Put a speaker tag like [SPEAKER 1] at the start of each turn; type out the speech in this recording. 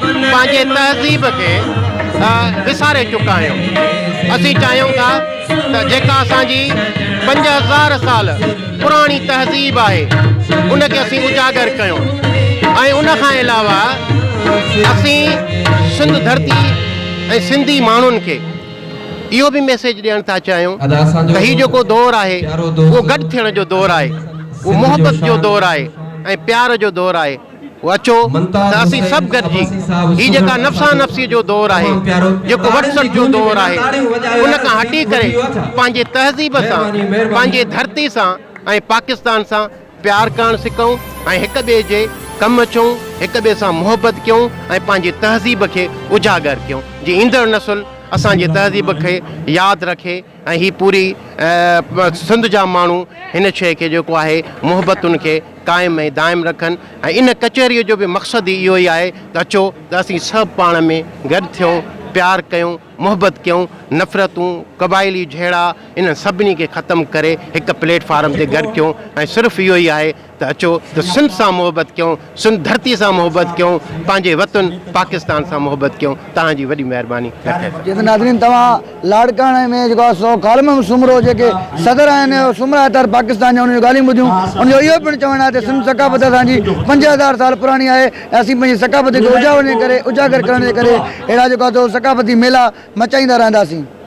[SPEAKER 1] پنهنجي تهذيب کي وساري چڪا آهيون اسين چاهيون ٿا ته جيڪا اسان جي پنج هزار سال پراڻي تهذيب آهي ان کي اسين اجاگر ڪيون ۽ ان کان علاوه اسين سنڌ ڌرتي ۽ سنڌي ماڻهن کي اهو به ميسيج ڏيڻ ٿا چاهيون ته هي جيڪو دور آهي اهو گڏ ٿيڻ جو دور آهي اهو محبت جو دور آهي ۽ پيار جو دور آهي اچو ته اسين سڀ گڏجي هي جيڪا نفسا نفسيء جو دور آهي، جيڪو وٽ سٽ جو دور آهي، ان کان هٽي ڪري پنهنجي تهذيب سان، پنهنجي ڌرتي سان ۽ پاڪستان سان پيار ڪرڻ سکون ۽ هڪ ٻئي جي ڪم اچون، هڪ ٻئي سان محبت ڪيون ۽ پنهنجي تهذيب کي اجاگر ڪيون، جي ايندڙ نسل اسان جي تهذيب کي ياد رکي. ۽ هي پوري سنڌ جا ماڻهو هن شيء کي جيڪو آهي محبتن کي قائم ۽ دائم رکن ۽ ان ڪچهريء جو به مقصد ئي اهو ئي آهي ته اچو ته اسين سڀ پاڻ ۾ گڏ ٿيون، پيار ڪيون، محبت ڪيون، نفرتون، قبائلي جهيڙا انهن سڀني کي ختم ڪري هڪ پليٽ فارم تي گڏ ٿيون ۽ صرف اهو ئي آهي ته اچو ته سنڌ سان محبت ڪيون، سنڌ ڌرتي سان محبت ڪيون، پنهنجي وطن پاڪستان سان محبت ڪيون. توهان جي وڏي مهرباني نه ٿئي ته. جي ته ناظرين
[SPEAKER 2] توهان لاڙڪاڻي ۾ جيڪو آ سو ڪالمم سومرو جيڪي صدر آهن سومرا اتر پاڪستان جا انهن جون ڳالهيون ٻڌيون ان جو اهو پڻ چوڻ آهي ته سنڌ ثقافت اسان جي پنج هزار سال پراڻي آهي ۽ اسين پنهنجي ثقافت کي اجاوڙ جي ڪري اجاگر ڪرڻ جي ڪري اهڙا جيڪو آ سو ثقافتي ميلا مچائيندا رهنداسين.